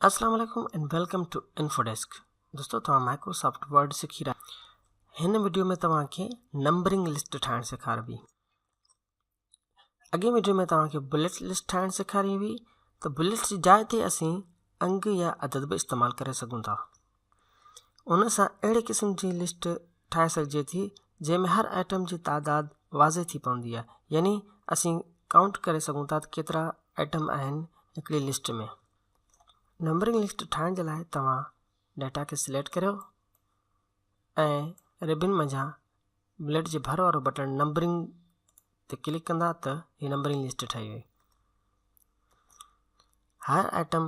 السلام عليڪم and welcome to info desk دوستو توهان مائڪروسافٽ ورڊ سکي رهيا هن وڊيو ۾ توهان کي نمبرنگ لسٽ ٺاهڻ سيکاربي اڳي وڊيو ۾ توهان کي بليٽ لسٽ ٺاهڻ سيکاري هئي ته بليٽ جي جاء تي اسين انگ يا عدد به استعمال ڪري سگهون ٿا ان سان اهڙي قسم جي لسٽ ٺاهي سگهجي ٿي جنهن ۾ هر آئٽم جي تعداد واضح ٿي پوندي آهي يعني اسين ڪائونٽ ڪري سگهون ٿا ته ڪيترا آئٽم آهن هڪڙي لسٽ ۾ نمبرنگ لسٽ ٺاهڻ جي لاء توهان ڊيٽا کي سليڪٽ ڪريو ۽ ربن منجهان بليڊ جي ڀر وارو بٽڻ نمبرنگ تي ڪلڪ ڪندا ته هي نمبرنگ لسٽ ٺهي وئي هر آئٽم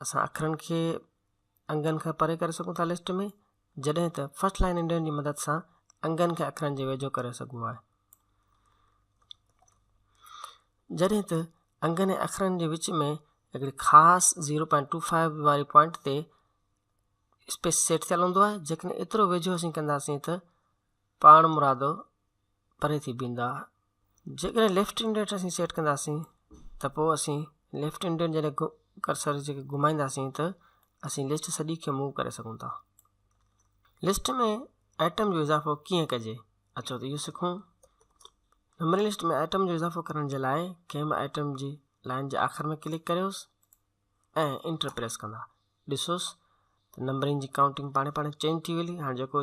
اسان اکرن کي انگن کان پري ڪري سگهون ٿا لسٽ ۾ جڏهن ته فرسٽ لائن انڊين جي مدد سان انگن کي اکرن جي ويجهو ڪري سگهبو آهي جڏهن ته انگن ۽ اکرن جي وچ ۾ هڪڙي خاص زيرو پوائنٽ ٽو فائيو واري پوائنٽ تي اسپيس سيٽ ٿيل هوندو آهي جيڪڏهن ايترو ويجهو اسين ڪنداسين ته پاڻمرادو پري ٿي بيھندا. جيڪڏھن ليفٽ انڊيٽ اسين سيٽ ڪنداسين ته پوء اسين ليفٽ انڊيٽ جڏھن ڪرسر جيڪي گھمائينداسين ته اسين لسٽ سڄي کي موو ڪري سگھون ٿا. لسٽ ۾ ائٽم جو اضافو ڪيئن ڪجي اچو ته اھو سکون. ميموري لسٽ ۾ ائٽم جو اضافو ڪرڻ جي لاء ڪنھن به ائٽم جي لائين جي آخر ۾ ڪلڪ ڪريوس ۽ انٽر پريس ڪندا ڏسوس ته نمبرنگ جي ڪائونٽنگ پاڻي پاڻي چينج ٿي ويلي ھاڻي جيڪو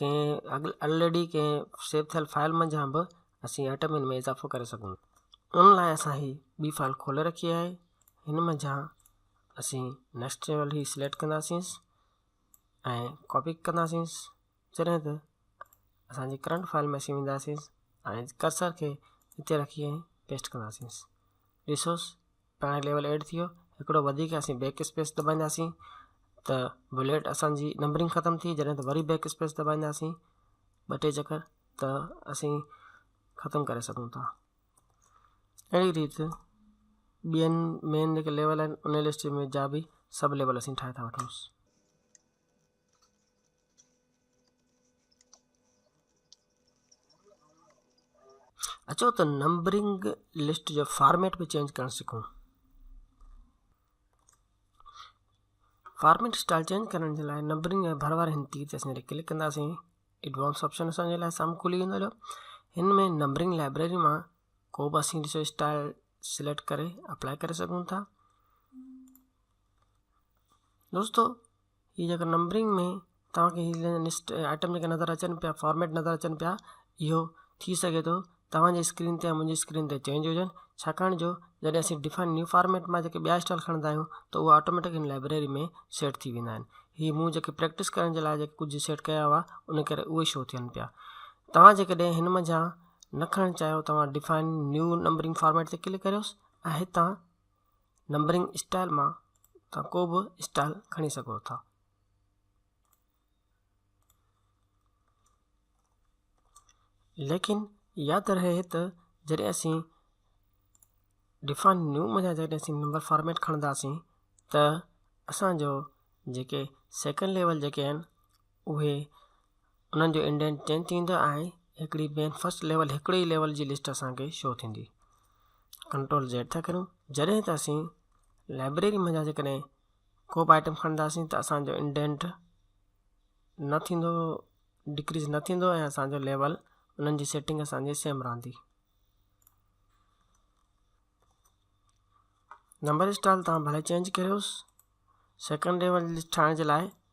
ڪنهن الريڊي ڪنهن سيو ٿيل فائيل منجهان به اسين ايٽمين ۾ اضافو ڪري سگهون ٿا ان لاء اسان هي ٻي فائيل کولي رکي آهي هن منجهان اسين نيڪسٽ ليول هي سليڪٽ ڪنداسين ۽ ڪاپي ڪنداسين جڏهن ته اسانجي ڪرنٽ فائيل ۾ اسين وينداسين ۽ ڪرسر کي هتي رکي ۽ پيسٽ ڪنداسين ڏسوس هاڻي ليول ايڊ ٿي ويو هڪڙو وڌيڪ اسين بيڪ اسپيس دٻائينداسين ته بليٽ اسانجي نمبرنگ ختم ٿي جڏهن ته وري بيڪ اسپيس دٻائينداسين ٻه ٽي چڪر ته اسين ختم ڪري سگهون ٿا اهڙي ريت ٻين مين جيڪي ليول آهن ان لسٽ ۾ جا به سب ليول اسين ٺاهي ٿا وٺوس اچو ته نمبرنگ لسٽ جو فارميٽ به چينج ڪرڻ سکون فارميٽ اسٽائل چينج ڪرڻ جي لاء نمبرنگ ۽ ڀر واري هن تير تي اسان جڏهن ڪلڪ ڪنداسين ايڊوانس آپشن اسان جي لاء سامهون کلي ويندو هليو هن ۾ نمبرنگ لائبريري مان ڪو به اسين ڏسو اسٽائل سليڪٽ ڪري اپلائي ڪري سگهون ٿا دوستو هي جيڪو نمبرنگ ۾ توهان کي هي لسٽ آئٽم جيڪي نظر اچن پيا فارميٽ نظر اچن پيا اهو ٿي سگهي ٿو توهان جي اسڪرين تي يا منهنجي اسڪرين تي چينج هجن ڇاڪاڻ جو جڏهن اسين ڊفائن نيو فارميٽ مان جيڪي ٻيا اسٽائل کڻندا آهيون ته اهي آٽوميٽڪ هن لائبريري ۾ سيٽ ٿي ويندا آهن هي مون جيڪي پريڪٽس ڪرڻ جي لاء جيڪي ڪجهه سيٽ ڪيا هئا ان ڪري اهي شو ٿين پيا توهان جيڪڏهن هن منجهان نه کڻڻ چاهيو توهان ڊفائن نيو نمبرنگ فارميٽ تي ڪلڪ ڪريوس ۽ هتان نمبرنگ اسٽائل مان توهان ڪو به اسٽائل کڻي سگهو ٿا ليڪن ياد رهي ته جڏهن اسين ڊفائن نيو ۾ جڏهن اسين نمبر فارميٽ کڻنداسين ته اسانجو جيڪي سيڪنڊ ليول جيڪي آهن اهي انهن جو انڊينٽ چينج ٿيندا ۽ هڪڙي بين فرسٽ ليول هڪڙي ئي ليول جي لسٽ اسان کي شو ٿيندي ڪنٽرول زيڊ ٿا ڪريون جڏهن ته اسين لائبريري مان جا جيڪڏهن ڪو به آئٽم کڻنداسين ته اسانجو انڊينٽ نه ٿيندو ڊڪريز نه ٿيندو ۽ اسانجو ليول انهن جي سيٽنگ اسانجي سيم رهندي نمبر اسٽال تان ڀلي چينج ڪريوس سيڪنڊ ليول لسٽ ٺاهڻ جي لاء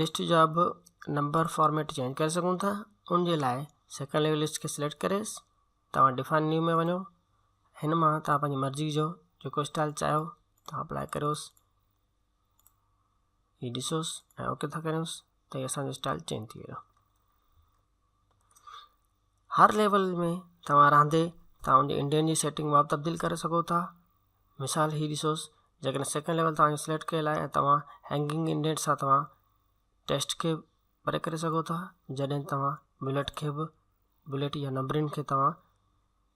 لسٽ جا به نمبر فارميٽ چينج ڪري سگهون ٿا ان جي لاء سيڪنڊ ليول لسٽ کي سليڪٽ ڪري توهان ڊفائن نيو ۾ وڃو هن مان توهان پنهنجي مرضي جو جيڪو اسٽائل چاهيو توهان اپلائي ڪريوس هي ڏسوس ۽ اوڪي ٿا ڪريوس ته هي اسانجو اسٽائل چينج ٿي ويو هر ليول ۾ توهان رهندي توهان ان جي انڊين جي سيٽنگ مان به تبديل ڪري سگهو ٿا مثال هي ڏسو جيڪڏهن سيڪنڊ ليول توهان جو سليڪٽ ڪيل آهي توهان هينگنگ انڊيٽ سان توهان ٽيسٽ کي پري ڪري سگهو ٿا جڏهن توهان بليٽ کي به بليٽ يا نمبرنگ کي توهان